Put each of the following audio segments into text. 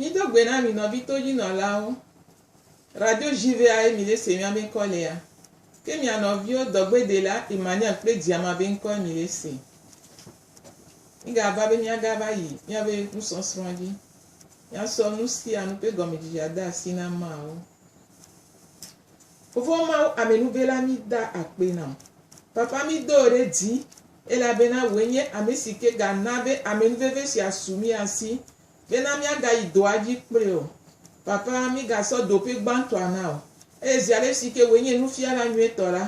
Mído gbe na mi nɔvi todzinɔlawo Radio Juvea ye mi ɖe se mia be ŋkɔ lea, ke mia nɔviwo dɔgbedela Emmanuel kple Diama be ŋkɔe mi ɖe se. Mi ga va be mia ga va yi mia be nusɔsrɔ̃ dzi. Mia sɔ nu sia nu ƒe gɔmedzedze ade asi na ameawo. Fofo Mawu amenuvela mi da akpe na wò. Papa mi do wò ɖe dzi elabena wòe nye ame si ke ga na be amenuveve sia su mia si Bena míagayi dɔa dzi kple o. Papa, mígasɔ do ƒe gbãtɔa na o. Eye zi alesi ke wòe nye Nufiala nyuietɔ la,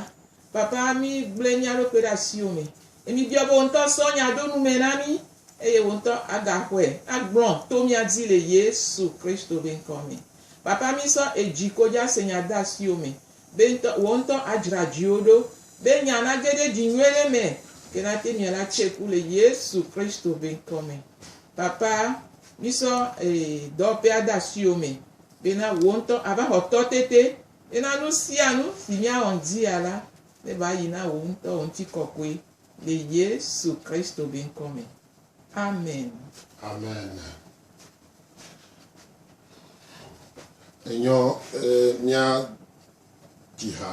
Papa, mígblẽ mía ɖokui ɖe asiwò me, eye míbiɔ be wò ŋutɔ sɔ nya ɖo nu me na mí, eye wò ŋutɔ agaxɔe agblɔ to mía dzi le Yesu Kristo ƒe ŋkɔ me. Papa, mísɔ edzi ko dza se nya de asiwò me, be ŋutɔ, wò ŋutɔ adzra dziwò ɖo, be nya nage ɖe dzi nyuie ɖe me, ke nate miela tse ƒu le Yesu Kristo ƒe ŋkɔ me. Papa, mísɔ ee dɔwɔƒea de asiwò me bena wò ŋutɔ àva xɔ tɔ tete bena nu sia nu si míawɔ ŋdzia la neva yi na wò ŋutɔ wò ŋutikɔkɔe le Yesu Kristo be ŋkɔ me. Amen. Amen. Enyɔ ee mía dzi ha.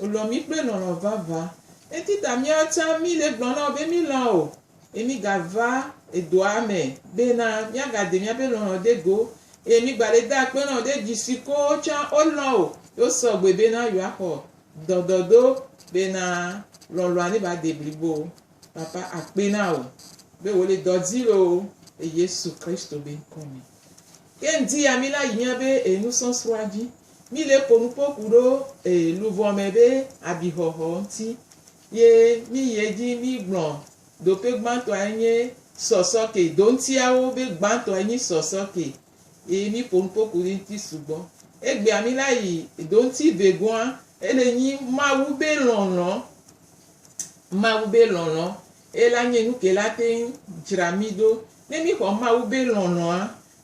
Wòlɔ̃ mí kple lɔlɔ̃ vavã. Enti ta míawo tsã míle egblɔm na wò be mílɔ̃a wò, eye mígava edɔa me bena míagade míaƒe lɔlɔ̃ ɖe go, eye mígbale de akpe na wò ɖe dzi si ko wotsã wolɔ̃ wò ye wosɔ gbɔe bena yewoaxɔ dɔdɔɖo bena lɔlɔ̃a neva de blibo. Papa, akpe na wò be wòle dɔ dzi loo le Yesu Kristo be ŋkɔ me. Ke ŋdi ya míla yi míaƒe enusɔsrɔ̃a dzi. Mi le ko nupo ku ɖo e luvɔ mɛ be abixɔxɔ ŋti. Ye mi yi edji mi gblɔ dope gbantɔa enye sɔsɔ ke do ŋtiawo be gbantɔ enyi sɔsɔ ke. Ye mi po nupo ku ɖi ŋti sugbɔ. Egbea mi la yi do ŋti be goa ele nyi Mawu be lɔlɔ. Mawu be lɔlɔ ela nye nuke la teŋ djra mi ɖo. Ne mi xɔ Mawu be lɔlɔa,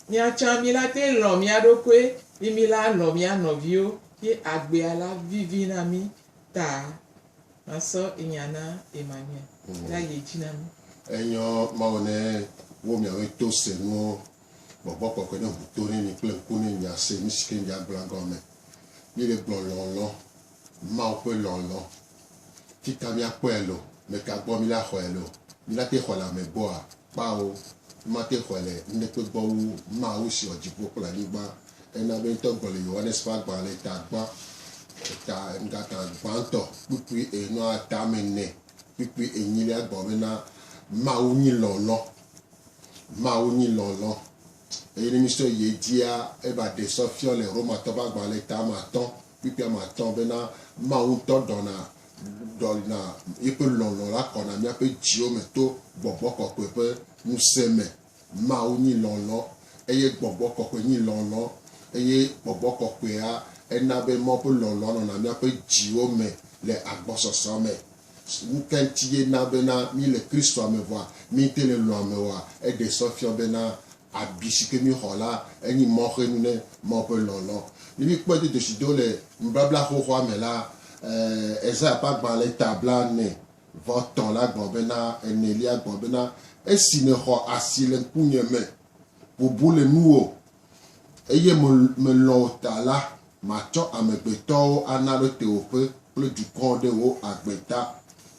Mia tsã mi la te lɔ̃ mia ɖokoe yi mi la lɔ̃ mia nɔviwo yi agbea la vivi na mi ta ma sɔ inya na Emmanuel la yi dzi na mi. Enyɔ Mawu ne wo miawe to se nuwo. Gbɔgbɔ kɔkɔe ne ŋu to ne mi kple ŋku ne mia se nu sike mia gblɔa gɔme. Mi le gblɔ lɔlɔ. Mawu ƒe lɔlɔ ti ka míakpɔe alo meka gbɔ míla xɔe alo míla te xɔe le ame gbɔa? Kpao, mímate xɔe le nuɖekpe gbɔ wu Mawu si wɔ dziƒo kple anyigba. Ena be ŋutɔ gblɔ le Yohanes ƒe agbalẽ le eta gbã, eta ŋgata gbãtɔ kpukpui enɔa eta me ne kpukpui enyilia gblɔ bena, Mawu nyi lɔlɔ. Mawu nyi lɔlɔ. Eye ne mísɔ yi edzia, eva ɖe sɔ fiɔ le Romatɔ ƒe agbalẽ le eta me atɔ̃ Kpekpea me atɔ bena Mawu ŋutɔ ɖɔna dɔ na yeƒe lɔlɔ̃ la kɔna míaƒe dziwo me to Gbɔgbɔ Kɔkɔe ƒe ŋusẽ me. Mawu nyi lɔlɔ̃ eye Gbɔgbɔ Kɔkɔe nyi lɔlɔ̃ eye Gbɔgbɔ Kɔkɔea ena be Mawu ƒe lɔlɔ̃a nɔna míaƒe dziwo me le agbɔsɔsɔ me. Nuka ŋuti ye na bena míle Kristoa me vɔa míete le lɔ̃ame oa? Eɖe sɔ fiɔ bena Abi si ke míexɔ la, enyi mɔxenu ne Mawu ƒe lɔlɔ̃. Ne míkpɔe do dzesi do le nubabla xoxoa me la, Esaya ƒe agbalẽ eta blaene vɔ etɔ̃ la gblɔ bena, enelia gblɔ bena, Esi nèxɔ asi le ŋkunye me, bubu le nuwò, eye melɔ̃ wò ta la, matsɔ amegbetɔwo ana ɖo tewòƒe kple dukɔ ɖe wò agbe ta.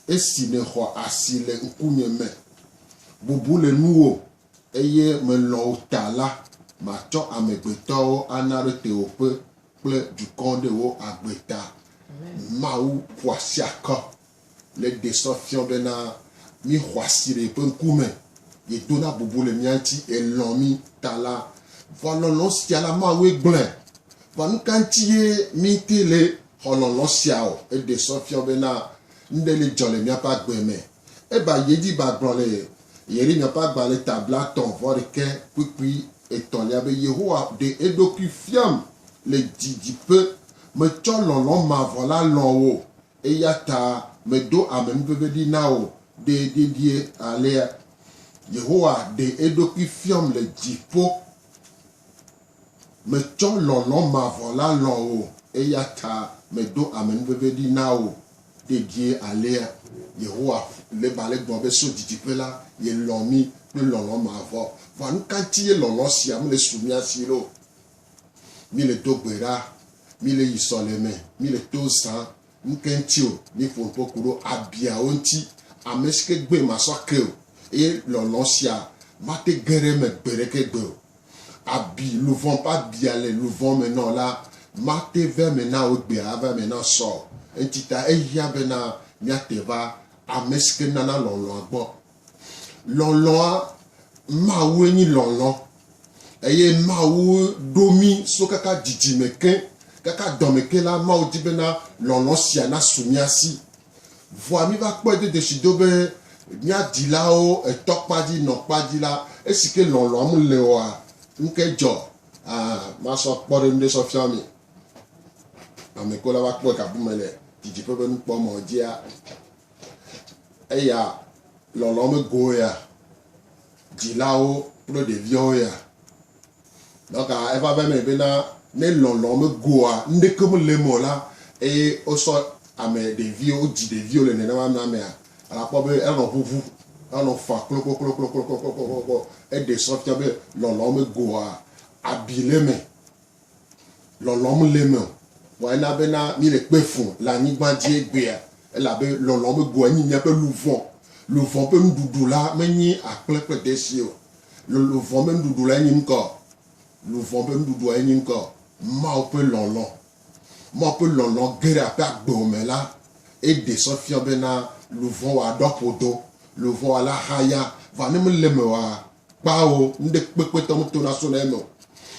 Esi nèxɔ asi le ŋkunye me, bubu le nuwò, Eye melɔ̃ wo ta la, matsɔ amegbetɔwo ana ɖe tewòƒe kple dukɔwo ɖe wò agbe ta. Mawu ƒo asi akɔ le ɖe sɔ fiɔ bena mí xɔasi le yeƒe ŋkume, yedona bubu le mía ŋuti, elɔ̃ mí ta la. Vɔ lɔlɔ̃ sia la, Mawue gblɔe. Vɔ nuka ŋuti ye míte le xɔ lɔlɔ̃ sia o? Eɖe sɔ fiɔ bena nuɖe le dzɔ le míaƒe agbe me. Eva yi edzi va gblɔ le Yeremiya ƒe agbalẽ ta blatɔ̃ vɔ ɖekɛ kpukpui etɔ̃lia be, Yehowa ɖe eɖokui fiam le didiƒe, metsɔ lɔlɔ̃ mavɔ la lɔ̃ wò, eya ta medo ame nuvevi ɖi na wò ɖe dedie alea. Yehowa ɖe eɖokui fiam le dziƒo. Metsɔ lɔlɔ̃ mavɔ la lɔ̃ wò, eya ta medo amenuveve ɖi na wò dedie alea. Yehowa le be ale gbɔgblɔ be, So didiƒe la, yelɔ̃ mí kple lɔlɔ̃ mavɔ. Vɔ nu ka ŋuti ye lɔlɔ̃ sia mele su mía si ɖo? Míele do gbe ɖa, míele yi sɔleme, míele to zãm, ŋke ŋti o, mi ƒo nuƒo kuɖo abiawo ŋti, amesike gbɔe masɔ ake o, eye lɔlɔ̃ sia mate ge ɖe eme gbeɖeke gbe o. Abi luvɔn ƒe abia le luvɔn me nɔ la, mate va eme na wò gbea ava eme na sɔ o, ŋtita ehiã bena miate va amesike nana lɔlɔ̃a gbɔ. Lɔlɔ̃a, Mawue nyi lɔlɔ̃ eye Mawu ɖo mí so kaka dzidzime ke, kaka dɔme ke la, Mawu di bena lɔlɔ̃ sia nasu mía si. Vɔa míva kpɔe do dzesi do be mía dilawo etɔ kpa dzi, nɔ kpa dzi la, esi ke lɔlɔ̃a mele oa, nuke dzɔ? A Masɔ kpɔɖeŋu ɖe sɔ fiɔ mi. Ame ko la va kpɔe gabume le didiƒe ƒe nukpɔmɔ̃ dzia? Eya lɔlɔ megowo ya, dzilawo kple ɖeviawo ya. Dɔka eva be me bena ne lɔlɔ megoa, nuɖeke mele eme o la, eye wosɔ ame ɖeviwo, wodzi ɖeviwo le nenema amea mea, alakpɔ be elanɔ ʋuʋu, elanɔ fa kloklokloklokloklokloklo. Eɖe sɔ fia be lɔlɔ megoa, abi le eme. Lɔlɔ̃m le eme o. Vɔ ena bena míele kpe fũ le anyigba dzi egbea, elabe lɔlɔ̃ be goa nyi míaƒe luvɔ. Luvɔ ƒe nuɖuɖu la menyi akple kple deshi o. Lo, luvɔ ƒe nuɖuɖu lae nyi ŋkɔ? Luvɔ ƒe nuɖuɖuae nyi ŋkɔ? Mawu ƒe lɔlɔ̃. Mawu ƒe lɔlɔ̃ ge ɖe aƒea gbewo me la, eɖe sɔ fiɔ bena luvɔwɔa ɖɔ ƒodo, luvɔwɔa la haya. Vɔ ne mele eme oa, Kpao, nuɖekpekpetɔ ŋuto nasona eme o.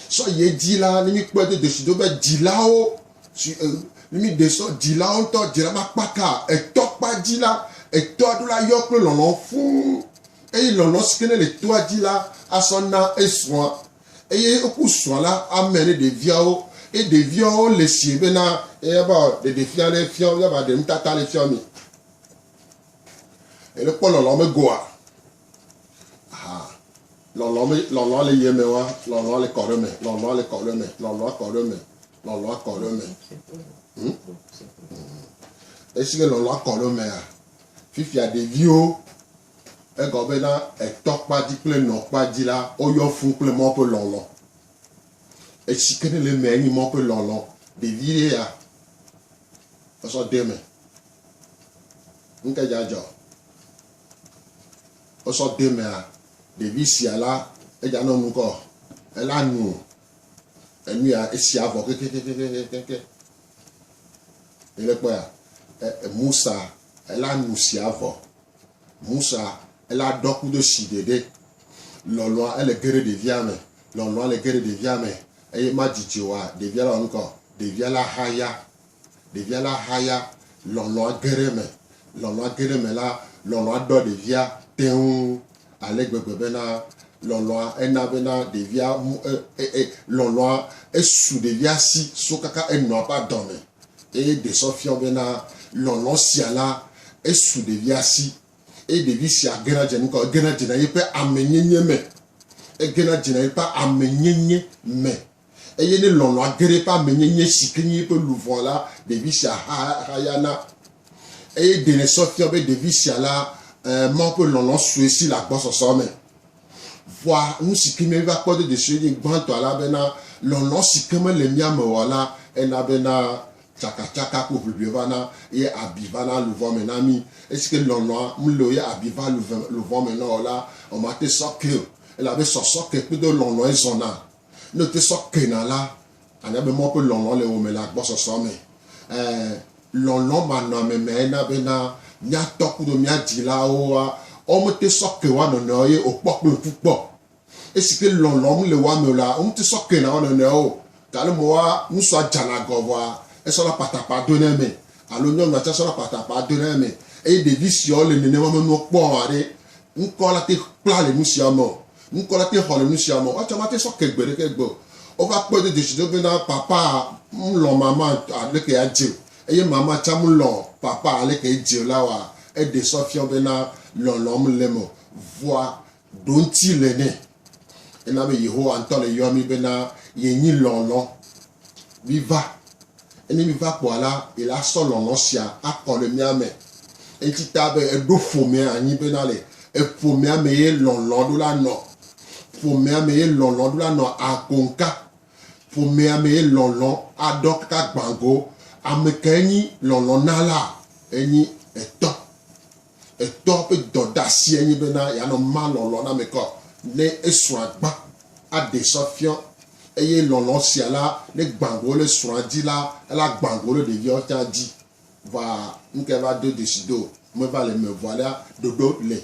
Sɔ ye dzi la, ne mi kpɔe do dosi do be dzilawo, ne mi ɖe sɔ dzilawo ŋutɔ dzila ma kpaka, etɔ kpa dzi la, etɔa ɖo la yɔ kple lɔlɔ fũu. Eye lɔlɔ si ke ne le toa dzi la asɔ na esrɔ̃a. Eye woku srɔ̃a la ame ne ɖeviawo. Eye ɖeviawo le si be na eya ba ɖeɖe fia ɖe fia wo, ya ba ɖe nutata ɖe fia mi. Ele kpɔ lɔlɔ me goa. Aha. Lɔlɔ me lɔlɔ le yeme wa lɔlɔ le kɔ ɖe me lɔlɔ le kɔ ɖe me lɔlɔ kɔ ɖe me lɔlɔ kɔ ɖe me. Hmm? Esi ke lɔlɔ kɔ ɖe mea fifia ɖeviwo egɔ be na etɔ kpa dzi kple nɔ kpa dzi la woyɔ fun kple mɔ ƒe lɔlɔ. Esi ke ne le mea nye mɔ ƒe lɔlɔ ɖevi ye ya esɔ de me. Nke dzadzɔ. wosɔ de mea, ɖevi sia la edza nɔ nu kɔ, ela nu enu ya esia vɔ kekekekekeke. Ele kpɔ ya, Musa ela nu sia vɔ. Musa ela ɖɔ kudo si ɖeɖe. Lɔlɔa ele ge ɖe ɖevia me. Lɔlɔa le ge ɖe ɖevia me eye ma dzidzi oa, ɖevia la wɔ nu kɔ. Ɖevia la hã ya Ɖevia la haya, lɔlɔ̃a ge ɖe eme. Lɔlɔ̃a ge ɖe eme la, lɔlɔ̃a ɖɔ ɖevia teŋ ale gbegbe bena lɔlɔ̃a ena bena ɖevia lɔlɔ̃a esu ɖevia si so kaka enɔa ƒe adɔ me eye ɖe sɔ fiɔ bena lɔlɔ̃ sia la esu ɖevia si eye ɖevi sia gena dzena ŋutɔ. Egena dzena yeƒe amenyenye me. Egena dzena yeƒe amenyenye me. Eye ne lɔlɔ̃a ge ɖe eƒe amenyenye si ke nye eƒe luʋɔ la, ɖevi sia hayana. Eye ɖe nèsɔ fiɔ be ɖevi sia la, Mawu ƒe lɔlɔ̃ sue si le agbɔsɔsɔ me. Vɔa nu si ke míeva kpɔ dediesie nye gbãtɔ elabena lɔlɔ̃ si ke mele mía me o la, ena bena tsakatsaka kple ʋiʋli vana eye abi vana luʋɔ me na mí. Esi ke lɔlɔ̃a mele o ye abi va luʋɔ me na wò la, womate sɔ kee o elabe sɔsɔ ke kpedo lɔlɔ̃e zɔna. Ne wòte sɔ kena la, ànya be Mawu ƒe lɔlɔ̃ le wò me le agbɔsɔsɔ me. Ẽ, lɔlɔ̃manɔamemae na bena mía tɔ kudo mía dzilawo wa, woawo mete sɔ ke woa nɔnɔewo ye o kpɔ kple ŋku kpɔ. Esi ke lɔlɔ̃ mele woa me o la, womete sɔ kena woa nɔnɔewo o. Ga le me woa, ŋutsua dzana gɔ vɔa, esɔna patapaa dona eme, alo nyɔnua tsɛ sɔna patapaa dona eme. Eye ɖevi siwo le nenema me nuwo kpɔm haɖe ŋkɔ la te kpla le nu siawo me o. Ŋkɔ la te xɔ le nu sia me o. Woatsɔ mate sɔ ke gbe ɖeke gbe o. Wova kpɔe do dzesi do bena, Papaa, m'lɔ̃ mama aleke adze o, eye mama tsã m'lɔ̃ Papaa aleke edze o la oa? Eɖee sɔ fia wo bena lɔlɔ̃ mele eme o. Vɔa, ɖoŋti le nɛ. Ena be Yehowa ŋutɔ le yɔa mí bena yenyi lɔlɔ̃. Miva, ne miva kpɔa la, yela sɔ lɔlɔ̃ sia akɔ le mía me. Eŋti ta be eɖo ƒomea anyi bena le eƒomea me ye lɔlɔ̃ ɖo la nɔ. Ƒomea me ye lɔlɔ̃ ɖo la nɔ akoŋka. Ƒomea me ye lɔlɔ̃ aɖɔ kaka gbã go. Amekae nyi lɔlɔ̃ na la? Enyi Etɔ. Etɔa ƒe dɔdeasie nye bena yeanɔ ma lɔlɔ̃ na ame kɔ ne esrɔ̃a gbã aɖee sɔ fiɔ, eye lɔlɔ̃ sia la ne gbã go le srɔ̃a dzi la, ela gbã go le ɖeviawo tsã dzi. Va ŋkɛ va do dzesi do meva le me vɔ alea ɖoɖo le.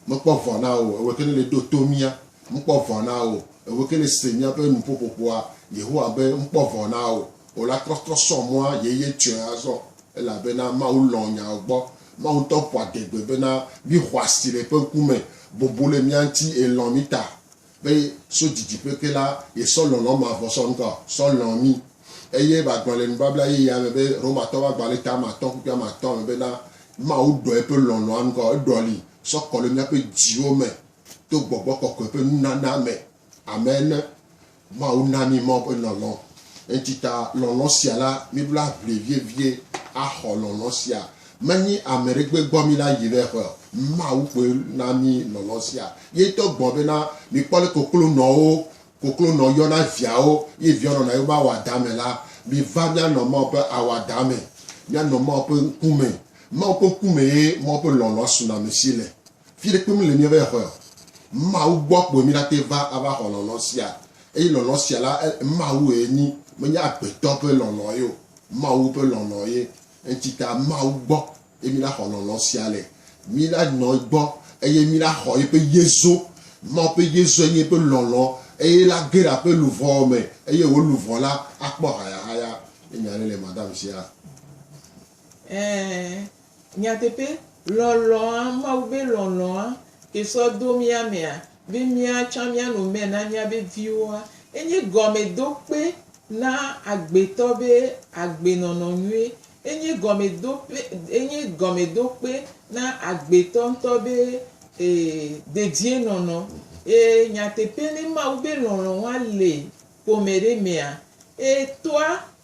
Mekpɔ vɔ na wo o, ewɔe ke ne le ɖo to mía. Mekpɔ vɔ na wo o, ewɔe ke ne se míaƒe nuƒoƒoƒoa. Yehowa be, Mekpɔ vɔ na wo o. Wò la trɔtrɔ sɔ mɔa yeye tsoe azɔ, elabena Mawu lɔ̃ nyawò gbɔ, Mawu ŋutɔ ƒo adegbe bena, Mi xɔasi le ƒe ŋkume, bobo le mia ŋuti, eye lɔ̃ mi ta, be so didiƒe ke la, yesɔ lɔlɔ̃ mavɔ sɔ ŋkɔ sɔ lɔ̃ mi, eye magblɔ le nubabla yeyea me be Romatɔwo ƒe agbalẽ ta ame atɔ̃ kpukpui ame atɔ̃ me bena, Mawu ɖɔ eƒe lɔlɔ̃a ŋkɔ, eɖɔli sɔ kɔ le míaƒe dziwo me to gbɔgbɔ kɔkɔe ƒe nunana me. Amen. Mawu na mí mɔ be lɔlɔ̃. Eŋtita lɔlɔ̃ sia la, míbla ʋli vievie axɔ lɔlɔ̃ sia. Menyi ame ɖe gbe gbɔ míla yi ɖe ƒe o. Mawu koe na mí lɔlɔ̃ sia. Ye ŋutɔ gblɔ bena, Mikpɔ le koklonɔwo, koklonɔ yɔna viawo, ye viawo nɔna yewo mawo adame la. Miva míanɔ Mawu ƒe awu adame. Míanɔ Mawu ƒe ŋkume. Mawu ƒe ŋkume ye Mawu ƒe lɔlɔ̃a sunɔamesi le. Fiɖe kpem le míabe xɔea? Mawu gbɔ kpoe míɖate va ava xɔ lɔlɔ̃ sia, eye lɔlɔ̃ sia la, Mawue nyi, menye agbetɔ ƒe lɔlɔ̃ ye o, Mawu ƒe lɔlɔ̃ ye. Eŋtita Mawu gbɔ ye míɖaxɔ lɔlɔ̃ sia le. Míɖanɔ egbɔ eye míɖaxɔ yeƒe yezo. Mawu ƒe yezoe nye eƒe lɔlɔ̃, eye la ge ɖe aƒe luʋɔ me, eye wò luʋɔ la akpɔ hayahaya. Nye nya aɖe le madame sia. Ɛ̃, Nyateƒe, lɔlɔ̃a, Mawu be lɔlɔ̃a, ke sɔ do mía mea, be mía tsã míanɔ mɛ na míabe viwoa, enye gɔmedokpe na agbetɔ be agbenɔnɔ nyui. Enye gɔmedope, enye gɔmedokpe na agbetɔ ŋutɔ be e, dedienɔnɔ. E, nyateƒe, ne Mawu be lɔlɔ̃a le ƒome ɖe mea, e, toa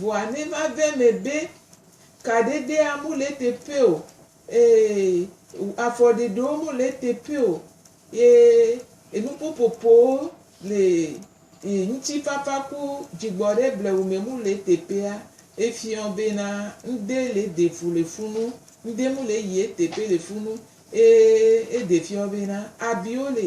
Vɔa ne va ve eme be, kaɖeɖea mu le eteƒe o, ee, afɔɖeɖewo mu le eteƒe o, ye enuƒoƒoƒowo le e ŋutifafa ku dzigbɔɖe blewume mu le eteƒea, efiɔ bena ŋde le eɖe fu le funu, ŋde mu le eyi eteƒe le funu, ee, eɖe fiɔ bena abiwo le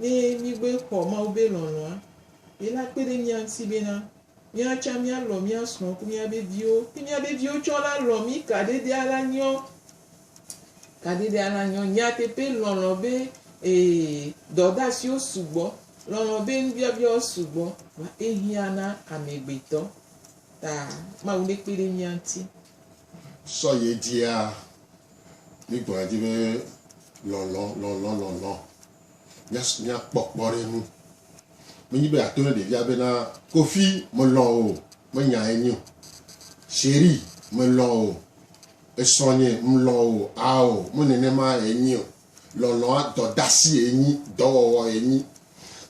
Ne mígbe xɔ Mawu be lɔlɔ̃a, ye la kpe ɖe mía ŋuti bena mía tsã míalɔ̃ mía srɔ̃ ku mía be viwo. Ne mía be viwo tsɔ la lɔ̃ mí kaɖedea la nyɔ. Kaɖedea la nyɔ. Nyateƒe lɔlɔ̃ be ee dɔdeasiwo sugbɔ. Lɔlɔ̃ be nubiabiawo sugbɔ. Vɔa ehiã na amegbetɔ. Ta Mawu nekpe ɖe mía ŋuti. Sɔ ye dzia, mi gblɔa dzi be lɔlɔ, lɔlɔ, lɔlɔ. Mia, mia kpɔ kpɔ ɖe nu. Me nyi be ato ne ɖevia be na kofi me lɔ o, me nya ye nyi o. Cheri me lɔ o, esɔ nye, me lɔ o, ao, me nene ma ye nyi o. Lɔlɔa dɔdasi ye nyi, dɔwɔwɔ ye nyi.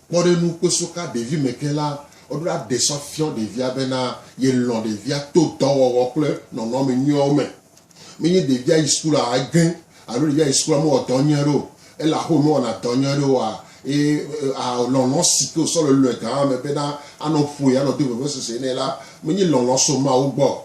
Kpɔ ɖe nu kpeso ka ɖevi me ke la, woɖo la ɖe sɔ fiɔ ɖevia bena ye lɔ ɖevia to dɔwɔwɔ kple nɔnɔme nyuiawo me. Menye ɖevia yi sukula egẽ alo ɖevia yi sukula mewɔ dɔ nyuie aɖe o. Ele axome mewɔna dɔ nyuie aɖe oa, eye a lɔlɔ si ke wosɔ le lɔe gã ame bena anɔ ƒoe, anɔ do vevesese nɛ la, menye lɔlɔ so Mawu gbɔ o.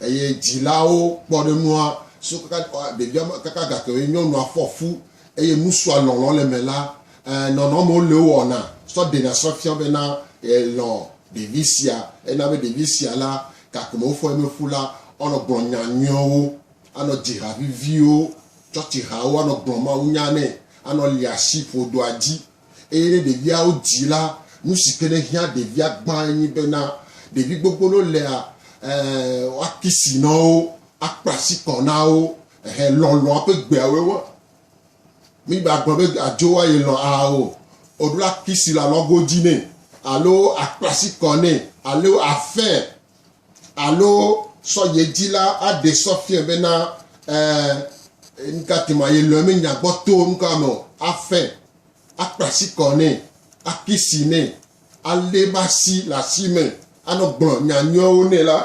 Eye dzilawo kpɔ ɖe nua so kaka ɖevia ma kaka gake wòye nyɔnua fɔ fu eye nu sua lɔlɔ̃ le eme la, e, nɔnɔmewo le wowɔna sɔ ɖena sɔ fia bena elɔ̃ ɖevi sia. Ena be ɖevi sia la, gakeme wofɔ ye mefu la, woanɔ gblɔ nya nyuiwo, anɔ dzi ha viviwo, tsɔtsihawo, anɔ gblɔ mawunya nɛ, anɔ lia asi ƒodoa dzi. Eye ne ɖeviawo dzi la, nu si ke nehiã ɖevia gbãe nye bena ɖevi gbogbo ɖewo lea, e, woakisi na wo, akpla asi kɔ na wo, ehe, lɔlɔ̃a ƒe gbeawoe wo. Mígbe agblɔ be adzo wa ye lɔ̃ aa o. O, ɖo akisi le alɔgo dzi nɛ, alo akpla asi kɔ nɛ, alo afee, Alo sɔyedzila aɖe sɔ fiɔe bena, Ɛɛ, nukati ma yelɔe mi nya gbɔ to nukua me o. Afɛ, akpla asi kɔ nɛ, akisi nɛ, alé eƒe asi le asi me, anɔ gblɔ nya nyuiawo nɛ la,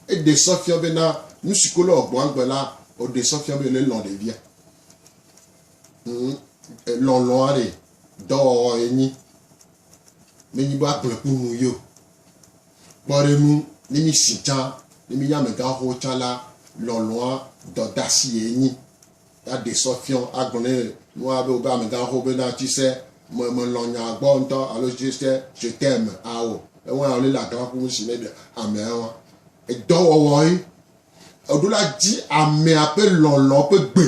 eɖe sɔ fiɔe bena nusi ko le wɔ gbɔa gbe la, wòɖe sɔ fiɔe be yele lɔ̃ ɖevia. Hm, lɔlɔ̃a ɖe dɔwɔwɔ ye nyi. Menyi be agblɔe kple nu ye o. Kpɔ ɖe ŋu, ne mísi tsã, ne mínye amegãxoxo tsã la, lɔlɔ̃a dɔdasiye nyi. Ya ɖe sɔ fiɔ agblɔ ne nua be wobe amegãxoxo be na tsi se me melɔ̃ nya gbɔ ŋutɔ alo je se je t'aime ao. Ewa wòle le agã ƒu si ne ɖe amea wa. Edɔwɔwɔ ye. Eɖo la dzi amea ƒe lɔlɔ̃ ƒe gbe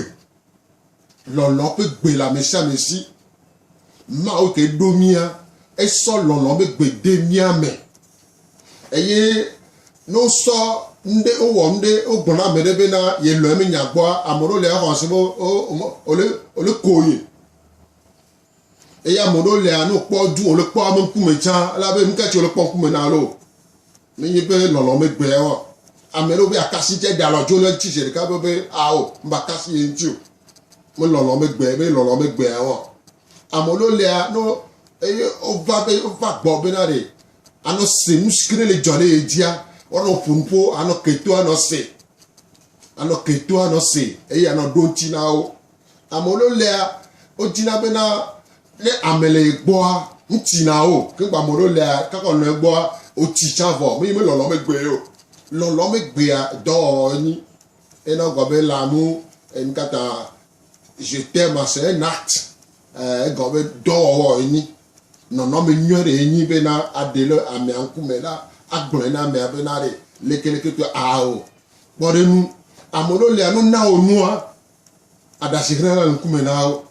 Lɔlɔ ƒe gbe le amesiame si. Mawu ke ɖo mía, esɔ lɔlɔ ƒe gbe de mía me. Eye ne wosɔ nuɖe, wowɔ nuɖe, wogblɔ na ame ɖe be na yelɔ̃e menya gbɔa, ame ɖewo le exɔ se be wole koe. Eya ame ɖewo lea ne wokpɔ du wòle kpɔ ame ŋkume tsã la be nuka tsi wòle kpɔ ŋkume na alo menye be lɔlɔ megbea o. Ame ɖewo be akasi tsɛ ɖe alɔ dzo le eŋuti zi ɖeka be be ao makasi ye ŋuti o. Me lɔlɔ megbe be lɔlɔ megbea o. Ame ɖewo lea ne eye wova be wova gbɔ be na ɖe anɔ se nu si ke ne le dzɔ ɖe ye dzia woanɔ ƒo nu ƒo anɔ ke to anɔ se anɔ ke to anɔ se eye anɔ ɖo ŋuti na wo. Amewo lo lea o dzina be na ne ame le ye gbɔa ŋti na o ke gba amewo lo lea kakɔ nɔ egbɔa o ti tsa vɔ me yi me lɔlɔ me gbe yo lɔlɔ me gbea dɔ ni ena gɔ be la mu en kata je te ma se nat e gɔ be dɔ wɔ ni nɔnɔ me nyɔ re ni be na ade le ame anku me la agblɔ na ame be na re leke leke to a o kpɔ re nu amewo lo lea no na o nua aɖashi hlẽ le ŋkume na wo,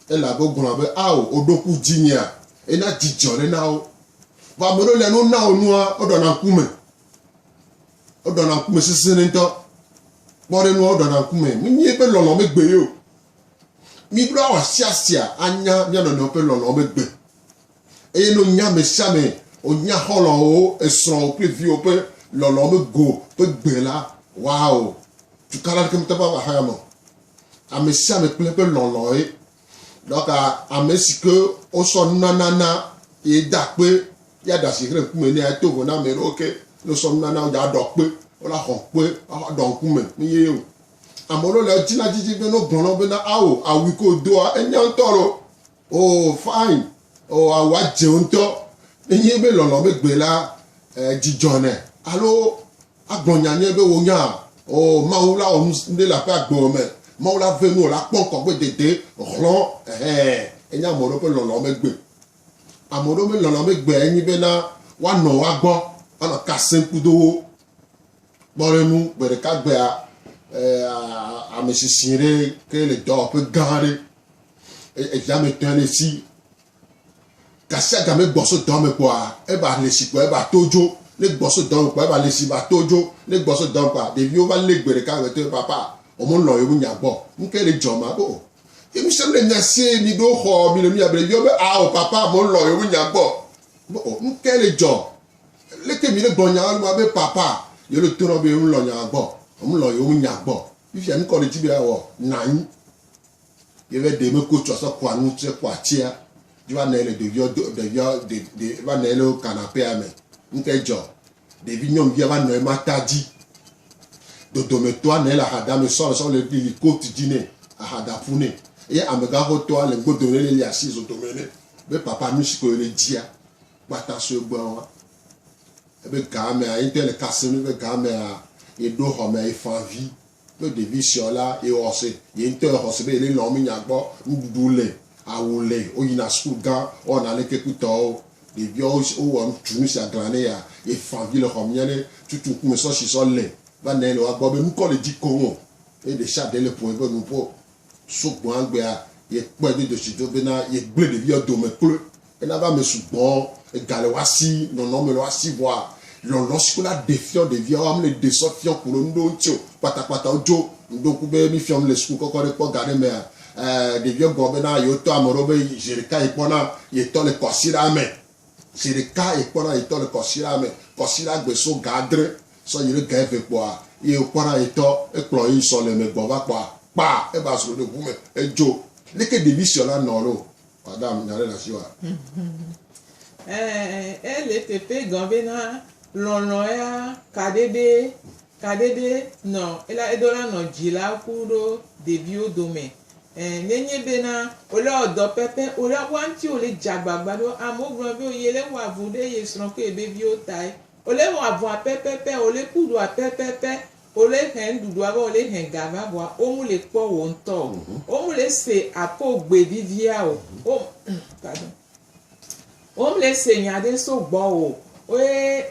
elabe wogblɔna be, Ao, wò ɖoku dzinyea, eye na dzidzɔ ɖe na wo. Vɔ ame ɖewo lia, ne wona wo nua, woɖɔna ŋkume. Woɖɔna ŋkume sesẽɖe ŋutɔ. Kpɔ ɖe nua, woɖɔna ŋkume. Menye eƒe lɔlɔ̃ megbe ye o. Míɖo awɔ asiasia anya mía nɔnɔewo ƒe lɔlɔ̃ megbe. Eye ne wònya ame sia ame, wònya xɔlɔ̃wo, esrɔ̃wo kple viwo ƒe lɔlɔ̃ me go ƒe gbe la, waɔ! Tukala aɖeke mete ƒe ava xɔa me o. Ame sia ame kple eƒe lɔlɔ̃e. Ɖɔka ame si ke wosɔ nunana na ye da kpe ya ɖe asi xlẽ ŋkume nɛ ato vo na ame ɖewo ke ne wosɔ nunana wo dza ɖɔ kpe, wola xɔ kpe axa ɖɔ ŋkume ne ye o. Ame ɖewo le edzi na dzidzi be ne wogblɔ na wo bena ao, awu yi ke wòdoa, enya ŋutɔ loo. Oo fine, oo awua dze ŋutɔ. Nenye be lɔlɔ̃ megbe la, eh, dzi dzɔnɛ. Alo agblɔ nya nyuie be wonya, oo Mawu la wɔ nu ɖe le aƒe agbe me. Mawu la ve nu wòla kpɔ ŋkɔ gbe dede hlɔ̃, ɛhɛ, enye ame ɖewo ƒe lɔlɔ̃ megbe. Ame ɖewo ƒe lɔlɔ̃ megbe enye be na woanɔ woa gbɔ, woanɔ ka sem kudo wo. Kpɔ ɖe nu gbe ɖeka gbea, eh, ame sisi ɖe ke le dɔwɔƒe gã aɖe eyame tɔe ne si gasia game gbɔso dɔme kpɔa eba le si kpɔa eba to dzo ne gbɔso dɔme kpɔa eba le si ba to dzo ne gbɔso dɔme kpɔa ɖeviwo va lé gbe ɖeka me to papa wɔmɔ lɔ yewo nya gbɔ nuke le dzɔ ma bo ye mi sɛm le nya sie mi ɖo xɔ mi le nu ya be ɖeviwo be awo papa wɔmɔ lɔ yewo nya gbɔ bo nuke le dzɔ leke mi le gbɔ nya wɔlu ma be papa yewo le to na be yewo lɔ nya gbɔ wɔmɔ lɔ yewo nya gbɔ fifia nukɔ le dzi be awɔ nanyi Ye be ɖe meko tsɔ asɔ kɔa nu tsɛ kɔa tsia dzi va nɔe le ɖeviawo do ɖeviawo ɖe ɖe va nɔe le kanapea me. Ŋkɛ dzɔ. Ɖevi nyɔnuvia va nɔe mata dzi. Dodomɛtɔa nɔe le ahadame sɔ le sɔ le lili coat dzi nɛ ahada ƒu nɛ. Eye amegãxotɔa le godo nɛ le li asi zodomɛ nɛ be papa nusi ko le dzia kpata sue gbɔa. Ebe gamea ye ŋtɔ le kasem be gamea ye ɖo xɔmea ye fã vi Ne ɖevi sɔ la, yexɔ se, ye ŋutɔ exɔ se be yele lɔ̃m be nya gbɔ, nuɖuɖu le, awu le, woyina suku gã, wowɔna aleke kpɔtɔwo. Ɖeviawo wowɔ tu nu sia glã ne ya, yefã vi le xɔ me nya ɖe tutu ŋkume sɔ si sɔ le. Vanae le woa gbɔ be nukɔ le dzi koŋ o eye ɖesiaɖe le ƒo eƒe nuƒo Sugbɔ egbea, yekpɔe do dzesi do bena yegblẽ ɖevia dome kloe hena be ame sugbɔ ega le woa si, nɔnɔ me le woa si vɔa, lɔlɔ si wola ɖe fiɔ ɖeviawo ame le ɖe sɔ fiɔ kolo nuɖewo ŋuti o. Kpatakpata wodzo ŋdo ŋku be mi fiɔm le suku kɔkɔ ɖe kpɔ ga ɖe mea? Ee, ɖeviawo gblɔ bena yewotɔ ame ɖewo be zeɖeka yekpɔna yetɔ le kɔsiɖa me. Zi ɖeka yi kpɔna yi tɔ le kɔsira me, kɔsira gbe so ga adre sɔ yi ɖe ga eve kpɔa, yi wo kpɔna yi tɔ, ekplɔ yi ŋsɔ le me gbɔ va kpɔa, kpa eba zro ɖe ŋu me, edzo. Leke ɖevi siɔ la nɔ lo? Madam, nya ɖe le asi wa? Ɛɛ, ele pepe gɔn bena lɔlɔ̃ ya kaɖeɖe Kaɖeɖe nɔ ela edo la nɔ dji la ku ɖo ɖeviwo domɛ e ne nyi be na ole wɔ dɔ pɛpɛ ole a wa ŋti ole dji agbagba ɖo amewo gblɔ be yi le wɔ avu ɖe ye srɔ kple yebe viwo tae ole wɔ avua pɛpɛpɛ ole ku ɖua pɛpɛpɛ ole hɛn ɖuɖua va ole hɛn ga va vɔa wo mu le kpɔ wo ŋtɔ o wo mu le se akɔ gbe vivia o wo Womle se nya ɖe so gbɔwò o ye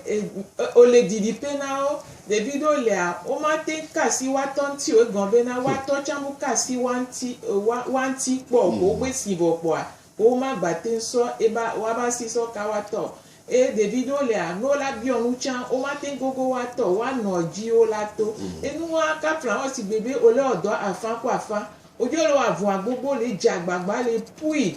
wòle didiƒe na wo. Ɖevi ɖewo lia, womate ŋu ka asi woa tɔ ŋuti o, egɔme bena woa tɔ tsɛ meka asi woa ŋuti, woa ŋuti kpɔ o. Wogbe esi vɔ kpɔa, womagate ŋu sɔ eba, woabe asi sɔ ka woa tɔ o. Eye ɖevi ɖewo lia, ne wola biɔ nu tsã, womate ŋu gogo woa tɔ o, woa nɔ edzi wola to. Enu ma ka fla wo sigbe be wole wɔ dɔ afã ku afã. Wodzo le wɔ avɔa gbogbo le dze agbagba le pui.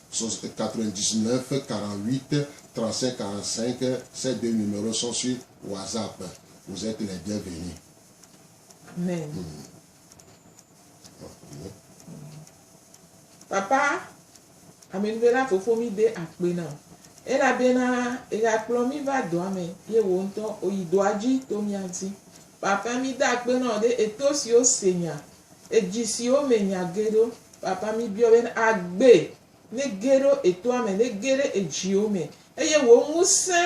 Sos e 99 fe 48 35 45 e se de numero son sui wazap e vous etes les bien venus. Amen. Papa amenuvela fofo mi de akpe na o elabena exa kplɔ mi va dɔa me ye wo ŋutɔ oyi dɔa dzi to mia ŋuti. Papa mi de akpe na o ɖe eto siwo se nya Edzi siwo me nya ge ɖo. Papa, míbiɔ be agbe nege ɖo etoa me, nege ɖe edziwo me, eye wò ŋusẽ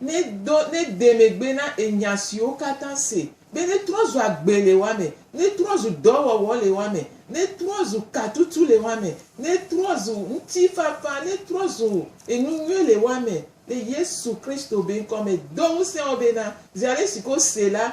nedo, nede megbe na enya siwo katã se, be netrɔ zu agbe le woa me, netrɔ zu dɔwɔwɔ le woa me, netrɔ zu katutu le woa me, netrɔ zu ŋutifafa, netrɔ zu enu nyui le woa me, le Yesu Kristo be ŋkɔ me. Do ŋusẽ wo bena, zi aɖe si ke wose la,